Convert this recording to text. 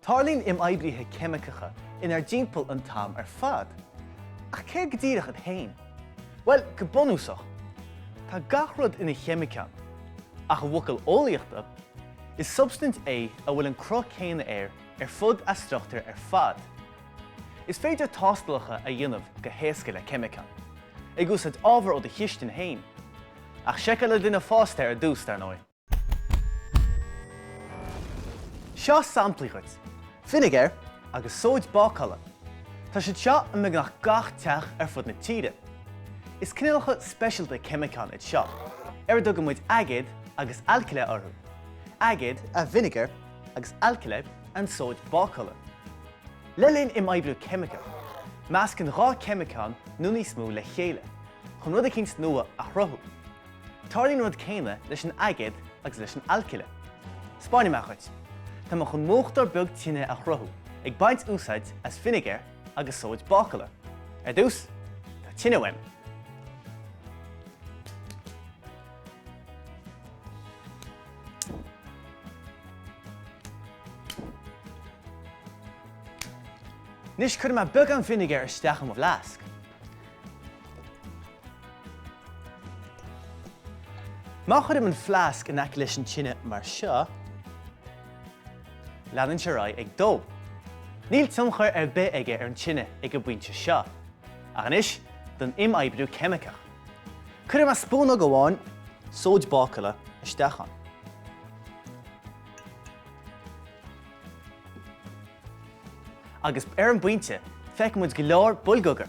Tarlaíonn imoibrithe ceimiceacha inár dtimpeall an t-am ar fad. Ach céard go díreach iad féin? Bhuel, go bunúsach, tá gach rud ina cheimiceán, ach i bhfocail eolaíochta, is substaint é a bhfuil an cruth céanna air ar fud a struchtúir ar fad. Is féidir tástálacha a dhéanamh go héasca le ceimiceán, ag úsáid ábhar ó do chistin féin. Ach seiceáil le duine fásta ar dtús, dar ndóigh. Seo samplaí dhuit. Vinegar agus sóid bácála, Tá siad seo i mbeagnach gach teach ar fud na tíre. Is cineálacha speisialta ceimiceán iad seo, ar a dtugann muid aigéad agus alcaile orthu, aigéad, an vinegar, agus alcaile, an sóid bácála. Le linn imoibriú ceimiceach, meascann dhá ceimiceán nó níos mó le chéile chun rud eicínt nua a chruthú. Tarlaíonn an rud céanna leis an aigéad agus leis an alcaile. Spáinfidh mé dhuit. Tá mé chun múchtóir beag tine a chruthú ag baint úsáid as vinegar agus sóid bácala. Ar dtús, tá tine uaim. Anois cuirfidh mé beagán vinegar isteach i mo bhfleasc. Má chuirim an fleasc in aice leis an tine mar seo, leanann sé ar aghaidh ag dó. Níl tionchar ar bith aige ar an tine ag an bpointe seo. Ach anois don imoibriú ceimiceach. Cuirfidh mé spúnóg amháin sóid bácála isteach ann. Agus ar an bpointe, feiceann muid go leor boilgeoga.